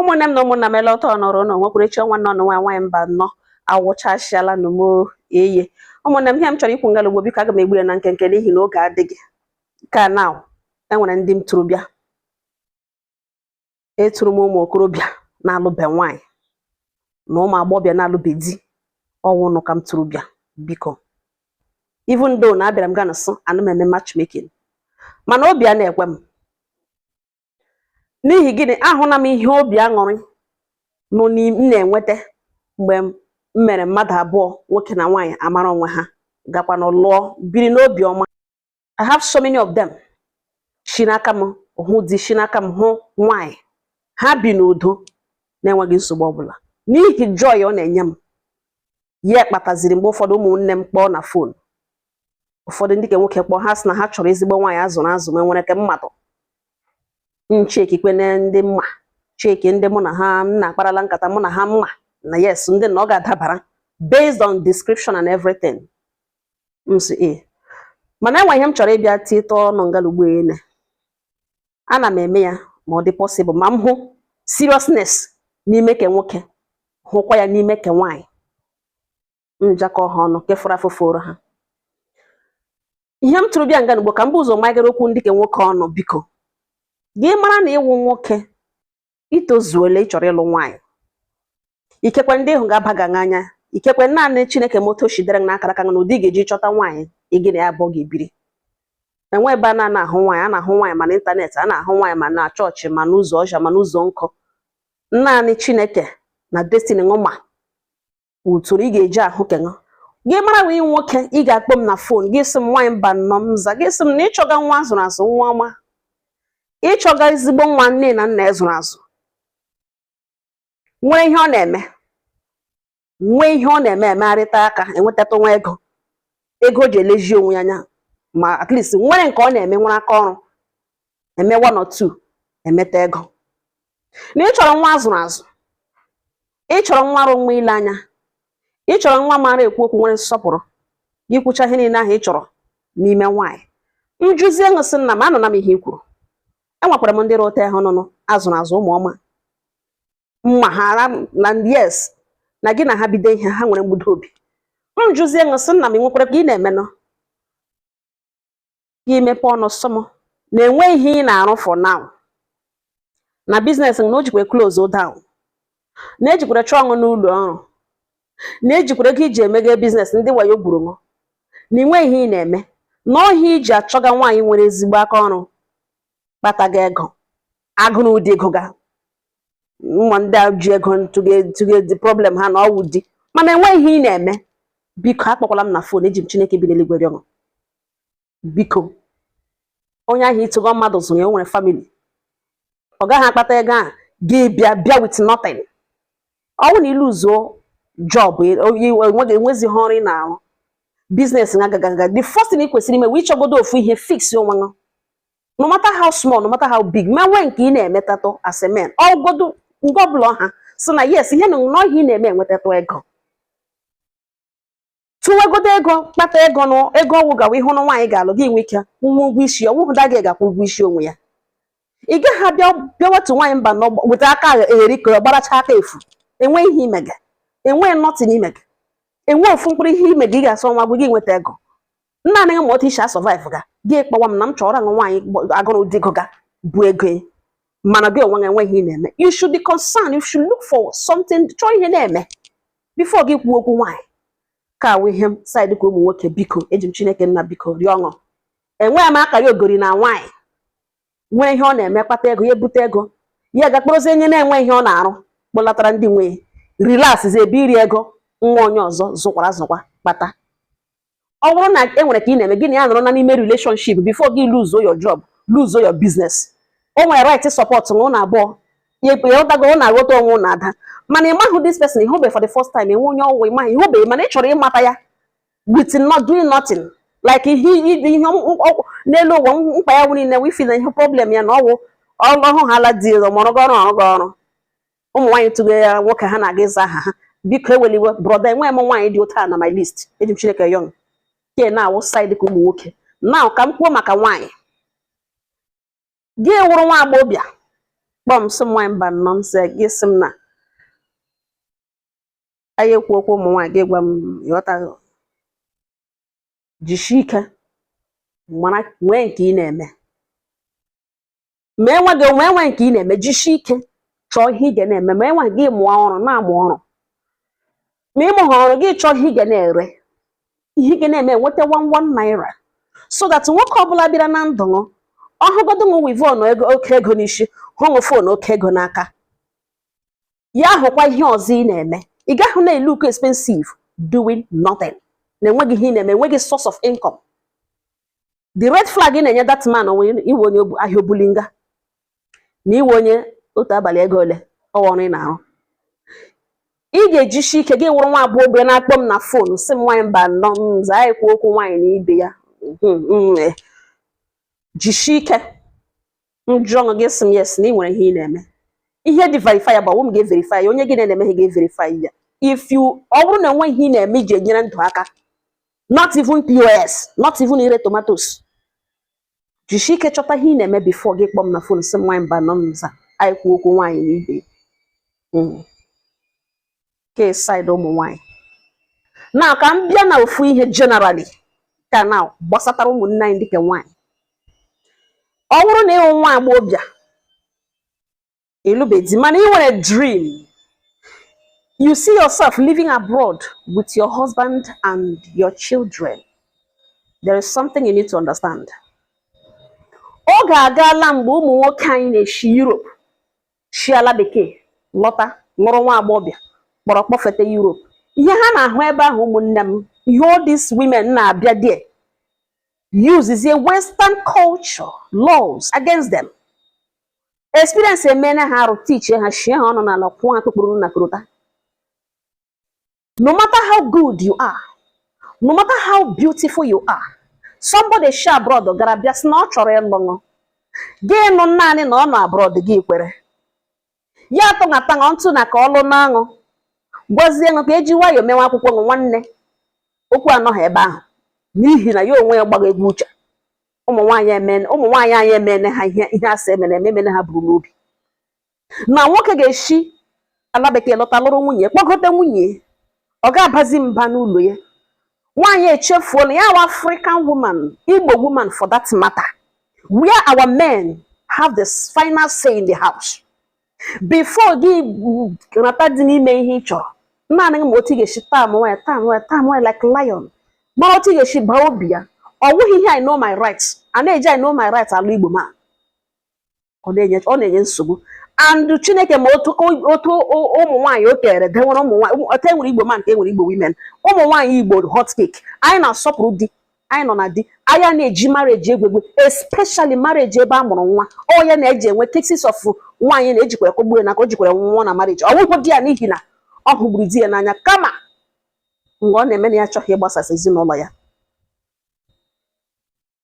ụmụnne m na ụmụnna m ele ọtọ nọrọ ụlọ nwekwuru echi ọnwa nọ n'ụwa nwaanyị Mbanọ awụchasịala na m eye ụmụnne m ihe m chọrọ ikwu ngala ugbo biko aga m egbu ya na nkenke n'ihi na oge adịghị ka na enwere ndị m tụrụ bịa etụrụ m ụmụ okorobịa na-alụbe nwaanyị na ụmụ agbọghọbịa na-alụbe di ọ wụ unu ka m tụrụ bịa biko even though na abịara m ga nso ana m eme matchmaking mana obi a na-ekwe m n'ihi gịnị ahụna m ihe obi aṅụrị nọ m na-enweta mgbe m mere mmadụ abụọ nwoke na nwaanyị amara onwe ha gakwa na lụọ biri n'obi ọma I have so many of them shi n'aka m hụ di shi n'aka m hụ nwaanyị ha bi n'udo na-enweghị nsogbu ọbụla n'ihi joy ọ na-enye m ya kpataziri mgbe ụfọdụ ụmụnne m kpọọ na fon ụfọdụ ndị ke nwoke kpọọ ha sị na ha chọrọ ezigbo nwaanyị a zụrụ azụ ma nwere ke m madụ m chekikwene ndị m ma cheki ndị mụ na ha na-akparala nkata mụ na ha m ma na yes ndị na ọ ga-adabara based on description and everything m sị e mana enwe ihe m chọrọ ịbịa tite ọnụ ngala ugbo ene ana m eme ya ma ọ dị possible ma m hụ seriousness n'ime ke nwoke hụkwa ya n'ime ke nwaanyị m jakọọ ha ọnụ nke fọrọ afọ fọrọ ha ihe m tụrụ bịa ngala ugbo ka m bu ụzọ magara okwu ndị ke nwoke ọnụ biko gị mara na ị wụ nwoke i tozuole ị chọrọ ịlụ nwaanyị ikekwe ndị ị hụga aba gị n'anya ikekwe naanị chineke ma otu o shi dere na akara aka na ụdị ị ga-eji chọta nwaanyị ị gị na ya abụọ ga-ebiri enwe ebe a na-ana ahụ nwaanyị a na-ahụ nwaanyị ma n'ịntanetị a na-ahụ nwaanyị ma na chọọchị ma n'ụzọ ọcha ma n'ụzọ nkụ naanị chineke na destiny ṅụ ma utoro ị ga-eji ahụ ke ṅụ gị mara ị wụ nwoke ị ga-akpọ m na fon gị sị m nwaanyị Mbanọ m za gị sị m na ị chọga nwa a zụrụ azụ nwa ọma ị chọga ezigbo nwa nne na nna e zụrụ azụ nwee ihe ọ na-eme nwee ihe ọ na-eme emegharịta aka enwetatụ nwa ego ego o ji elezi onwe ya anya ma at least nwere nke ọ na-eme nwere aka ọrụ eme one or two emeta ego na ị chọrọ nwa a zụrụ azụ ị chọrọ nwa rị mma ile anya ị chọrọ nwa maara ekwu okwu nwere nsọpụrụ gị kwuchaa ihe niile ahụ ị chọrọ n'ime nwaanyị m jụzie ṅụ sị nna m anụna m ihe i kwuru enwekwara m ndị rị otu ahụ nụnụ a zụrụ azụ ụmụ ọma m ma ha na yes na gị na ha bido ihe ha nwere mgbudo obi m jụzie ṅụ sị nna m ị nwekwara ke ị na-emenụ gị imepe ọnụ sị m na enweghị ihe ị na-arụ for now na biznes na o jikwa close down na ejikwara chụọ ṅụ n'ụlọ ọrụ na ejikwara ego iji emeghe biznes ndị wayo gburu ṅụ na inwe ihe ị na-eme na ọ wụ ya iji achọga nwaanyị nwere ezigbo aka ọrụ kpataga ego agụrụ di gụga nwa ndị a ji ego tụge di problem ha na ọwụ di mana enweghị ihe ị na-eme biko akpọkwala m na fon eji m Chineke bi n'eluigwe rịọ biko onye ahụ ịtụgọ mmadụ zụrụ ya o nwere famili ọ gaghị akpata ego a gị bịa with nothing ọwụ na i luzuo job enwezighị ọrụ ị na-arụ biznes na agagaga the first thing ị kwesịrị ime wụ ịchọgodo ofu ihe fix onwe gị no matter how small no matter how big ma nwee nke ị na-emetatụ as a man ọgodo nke ọbụla ha sị na yes ihe na ihe ị na-eme enwetatụ ego tụwegodo ego kpata ego nụ ego ọgwụ gawa ịhụ na nwaanyị ga-alụ gị nwe ike kwaa ụgwọ isi ọwụhụ daa gị ga-akwa ụgwọ isi onwe ya ị gaghị abịa bịawatu nwaanyị Mbano weta aka egheri ka gbaracha aka efu enwe ihe imega enwe nothing imega enwe ofu mkpụrụ ihe imega ị ga-asọ nwa gị gị nweta ego nna anaghị ma otu isi asurvive ga gị kpọwa m na m chọrọ ṅụ nwaanyị agụrụ di gụga bu ego ya mana gị onwe gị enweghị ihe ị na-eme you should be concerned you should look for something chọọ ihe na-eme before gị kwuo okwu nwaanyị ka awụ ihe m side ka ụmụ nwoke biko eji m chineke nna biko rịọ ṅụ enweghị m akara ogori na nwaanyị nwee ihe ọ na-eme kpata ego ya ebute ego ya ga kpọrọzie onye na-enwe ihe ọ na-arụ kpọlatara ndị nwe ya relaxzi ebe iri ego nwa onye ọzọ zụkwara azụkwa kpata ọ bụrụ na e nwere ka ị na-eme gị na ya nọrọ na n'ime relationship before gị lose your job lose your business o nwere right support ṅụ ụnụ abụọ ịghọtago ụnụ aghọta onwe ụnụ ada mana ị maghị this person ịhụbe for the first time enwe onye ọwụwa ịmaghị ịhụbe mana ị chọrọ ịmata ya with not doing nothing like ihe n'elu ụwa mkpa ya nwere niile wụ di na ihe problem ya na ọwụ ọhụ ha alụ di ọrụ ọrụ gị ọrụ ụmụ nwaanyị tụga nwoke ha na-aga ịza aha ha biko ewela iwe brother enwe m nwaanyị dị otu a na my list eji m Chineke yọọ ṅụ ke na-awụ side ka ụmụ nwoke now ka m kwuo maka nwaanyị gị wụrụ nwa agbọghọ bịa kpọọ m sị m nwaanyị Mbano m sị gị sị m na anyị ekwu okwu ụmụ nwaanyị gị gwa m ịghọta jisie ike mara nwee nke ị na-eme ma enwe gị onwe enwe nke ị na-eme jisie ike chọọ ihe ị ga na-eme ma enwe gị mụọ ọrụ na-amụ ọrụ ma ị mụghị ọrụ gị chọọ ihe ị ga na-ere ihe ị ga na-eme enweta one one naira so that nwoke ọbụla bịara na ndụ ṅụ ọhụgodo ṅụ weavon oke ego n'isi hụ ṅụ fon oke ego n'aka ya hụkwa ihe ọzọ ị na-eme ị gaghị na-elook expensive doing nothing na enweghị ihe ị na-eme enweghị source of income the red flag ị na-enye that man wụ ị wụ onye obu- ahịa obulinga na ị wụ onye otu abalị ego ole ọ ọrụ ị na-arụ ị ga-ejisi ike gị wụrụ nwa agbọghọbịa na-akpọ m na fon sị m nwaanyị Mbano m zaa ekwuo okwu nwaanyị na ibe ya jishi ike m jụọ ṅụ gị sị m yes na ị nwere ihe ị na-eme ihe dị verifiable m ga-everify ya onye gị na-eme ihe ga-everify ya if you ọ bụrụ na enweghị ihe ị na-eme iji enyere ndụ aka not even POS not even ire tomatoes jishi ike chọta ihe ị na-eme before gị kpọọ m na fon sị m nwaanyị Mbano m zaa anyị kwuo okwu nwaanyị na ibe mm. ke side ụmụ nwaanyị na ka m bịa na ofu ihe generally ka na gbasatara ụmụnne anyị ndị ke nwaanyị ọ bụrụ na ị wụ nwa agbọghọbịa ị lụbe di mana ị nwere dream you see yourself living abroad with your husband and your children there is something you need to understand oge agaala mgbe ụmụ nwoke anyị na-eshi Europe shi ala bekee lọta lụrụ nwa agbọghọbịa kpọrọ kpọfete Europe ihe ha na-ahụ ebe ahụ ụmụnne m ihe all these women na-abịa there uses a western culture laws against them experience emeela ha arụ tichie ha shie ha ọnụ n'ala kwụọ ha kpụkpụrụ na korota no matter how good you are no matter how beautiful you are somebody shi abroad gara bịa sị na ọ chọrọ ịlụ ṅụ gị nụ naanị na ọ nọ abroad gị kwere ya atụnata ṅụ ntụ na ka ọ lụna ṅụ gwazie ṅụ ka eji nwayọọ mewe akwụkwọ ṅụ nwanne okwu anọghị ebe ahụ n'ihi na ya onwe ya gbagha egwu uche ụmụ nwaanyị emene ụmụ nwaanyị anyị emene ha ihe ihe a sị emene eme emene ha buru n'obi na nwoke ga-eshi ala bekee lọta lụrụ nwunye kpọgote nwunye ọ ga-abazi mba n'ụlọ ya nwaanyị echefuo na ya wụ African woman Igbo woman for that matter where our men have the final say in the house before gị nata di n'ime ihe ị chọrọ naanị ma otu ị ga-eshi tamewa ya tamewa ya tamewa ya like lion mara otu ị ga-eshi baa obi ya ọ wụghị ihe I know my rights a na-eji I know my rights alụ Igbo man ọ na-enye nsogbu and Chineke ma otu ụmụ nwaanyị o kere dewere ụmụ nwaanyị otu enwere igbo man ka enwere igbo women ụmụ nwaanyị igbo hot cake anyị na-asọpụrụ di anyị nọ na di anyị ana-eji marriage egwu egwu especially marriage ebe a mụrụ nwa ọ ya na-eji enwe cases of nwaanyị na-ejikwere kọgbuo ya na ka o jikwere nwa na marriage ọ bụghị di ya n'ihi na ọ hụgburu di ya n'anya kama mgbe ọ na-eme na ya achọghị ịgbasasị ezinụlọ ya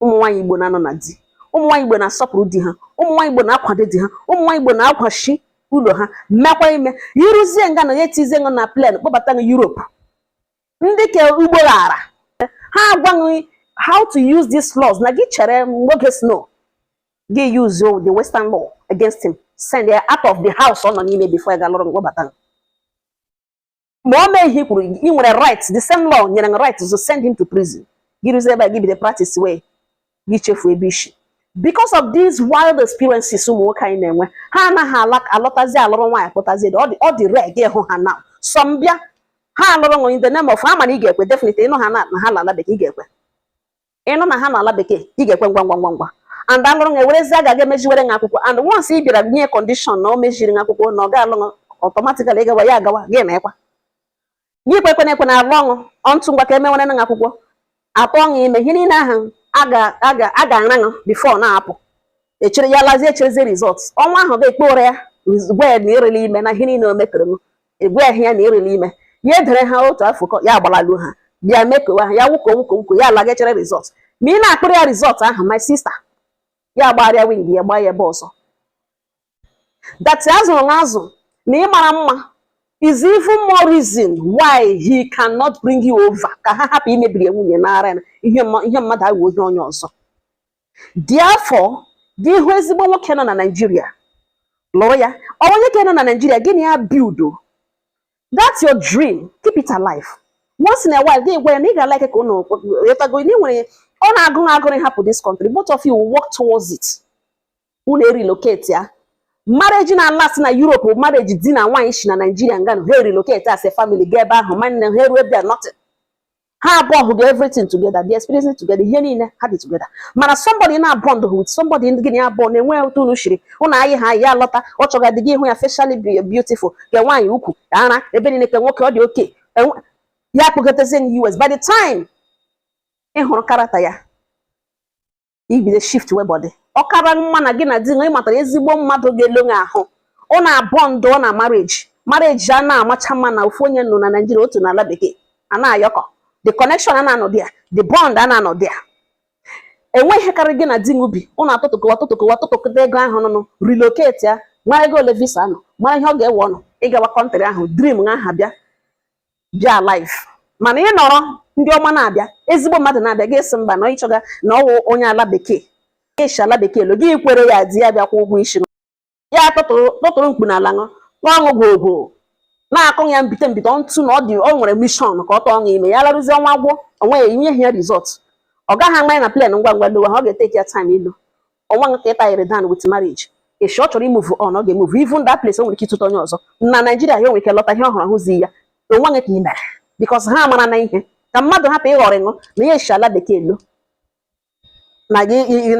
ụmụ nwaanyị Igbo na-anọ na di ụmụ nwaanyị Igbo na-asọpụrụ di ha ụmụ nwaanyị Igbo na-akwado di ha ụmụ nwaanyị Igbo na-akwachi ụlọ ha mekwa ime i ruzie nga na ya etizie ṅụ na plane kpọbata ṅụ Europe ndị ke ugbo ghara ha agwa gị how to use these laws na gị chere mgbe oge snow gị use the western law against him send ya out of the house ọ nọ n'ime before ya alụrụ ṅụ kpọbata ma o mee ihe i kwuru ị nwere right the same law nyere ṅụ right to send him to prison gị ruzie ebe a gị bido practicewe gị chefu ebe isi because of these wild experiences ụmụ nwoke anyị na-enwe ha anaghị alọtazi alụrụ nwaanyị kpọtazi ọ dị rare ịhụ ha now some bịa ha alụrụ ṅụ in the name of ha ma na ị ga-ekwe definitely ị nụ ha na ha nọ ala bekee ị ga-ekwe ị nụ na ha nọ ala bekee ị ga-ekwe ngwa ngwa ngwa ngwa and alụrụ ṅụ ewerezi a ga-aga emeziwere ṅụ akwụkwọ and once ị bịara nye condition na o meziri ṅụ akwụkwọ na ọ ga-alụ ṅụ automatically ịgawa ya agawa gị na ịkwa Gị kwekwana ekwe na alụọ ṅụ onto ngwa ka emewere ṅụ akwụkwọ atụọ ṅụ ime ihe niile ahụ a ga-ara ṅụ before na-apụ echere ya lazie echerezi result ọnwa ahụ ga-ekpe ụra ya gwa ya na erela ime na ihe niile o metere m egwe ahụ ya na erela ime ya edere ha otu afọ ya agbalalu ha bịa mekowa ha ya wuko wuko wuko ya alaga echere result ma ị na-akpọrọ ya result ahụ my sister ya gbagharịa wing ya gbaa ya ebe ọzọ that a zụrụ ṅụ azụ na ị mara mma is even more reason why he cannot bring you over ka ha hapụ imebiri ya nwunye nara ya ihe mma- ihe mmadụ ahụ nye onye ọzọ therefore gị hụ ezigbo nwoke nọ na Naịjirịa lụrụ ya ọ onye ka nọ na Naịjirịa gị na ya builduo. that's your dream keep it alive once in a while gị gwa ya na ị ga-alike ka ụnụ ghọtago na ị nwere ọ na-agụ agụrụ ịhapụ this country both of you will work towards it unu erelocate ya marriage na-alast na Europe marriage di na nwaanyị si na Naijiria nganụ ha erelocate as a family ga ebe ahụ nwanne ha eruo bịa nothing ha abụọ hụga everything together the experience together ihe niile ha dị together mana somebody na-abond with somebody ndị gị na abụọ na-enwe otu unu shiri ụnụ anyị ha ya lọta ọ chọga dị gị ịhụ ya facially beautiful ke nwaanyị ukwu ara ebe niile ke nwoke ọ dị okay ya kpọgotezie na US by the time ị hụrụ character ya ị bido shiftiwe body ọ kara mma na gị na di ṅụ matara ezigbo mmadụ ga-elo gị ahụ ụnụ abonduo na marriage marriage a na-amacha mma na ofu onye nọ na Naịjirịa otu n'ala bekee a na-awork the connection a na-anọ there the bond a na-anọ there enweghị karị gị na di ṅụ bi ụnụ atụtụkọwa tụtụkọwa tụtụkọta ego ahụ ụnụ relocate ya mara ego ole visa nọ mara ihe ọ ga-ewe ụnụ ịgawa country ahụ dream ha ha bịa bịa alive mana ị nọrọ ndị ọma na-abịa ezigbo mmadụ na-abịa gị sị mba na ị chọga na ọ wụ onye ala bekee ịshi ala bekee lo gị kwere ya di ya bịakwa ụgwọ isi ya tụtụrụ mkpu n'ala ṅụ ọṅụ gwogwo na-akụ ya mbite mbite ntụ na ọ dị ọ nwere mission ka ọ tụọ ṅụ ime ya laruzie ọnwa gwụ onwe ya inye ya result ọ gaghị ama ya na plan ngwa ngwa lowa ha ọ ga-etake ya time ilu o nweghị nke ị tayere down with marriage eshi ọ chọrọ imove on ọ ga-emove even that place o nwere ike ịtụta onye ọzọ na Naịjirịa ya o nwere ike lọta ihe ọhụrụ ahụzi ya o nweghị ka ị mere because ha mara na ihe ka mmadụ hapụ ịghọrọ ụnụ na ya eshi ala bekee lọ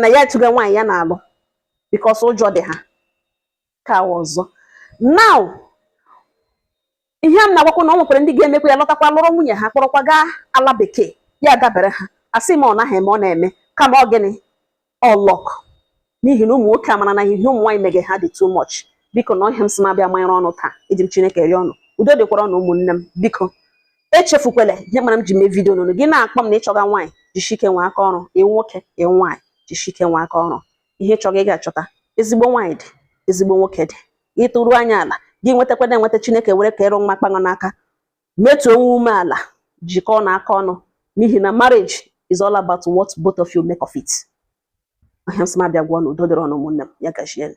na ya atụga nwaanyị ya na-alụ because ụjọ dị ha ka ọzọ now ihe a m na-agwakwa na o nwekwara ndị ga-emekwa ya lọtakwa lụrụ nwunye ha kpọrọkwa gaa ala bekee ya dabere ha asị m ọ naghị eme ọ na-eme kama ọ gịnị ọ luck n'ihi na ụmụ nwoke amara na ihe ụmụ nwaanyị mege ha dị too much biko na ọ ihe a m sị m abịa manyere ụnụ taa eji m Chineke rịọ ụnụ udo dịkwara ụnụ ụmụnne m biko echefukwele ihe mere m ji mee vidio n'ụnụ gị na-akpọ m na ị chọga nwaanyị jisike nwe aka ọrụ ị wụ nwoke ị wụ nwaanyị jisike nwe aka ọrụ ihe ị chọga ị ga-achọta ezigbo nwaanyị dị ezigbo nwoke dị ị tụrụ anya ala gị nwetakwana enweta Chineke were aka iru ọma kpa ụnụ n'aka wetuo onwe umeala jikọọnụ aka ọnụ n'ihi na marriage is all about what both of you make of it ọ ihe a m sị m abịa gwa ụnụ udo dịrị ụnụ ụmụnne m ya gazienụ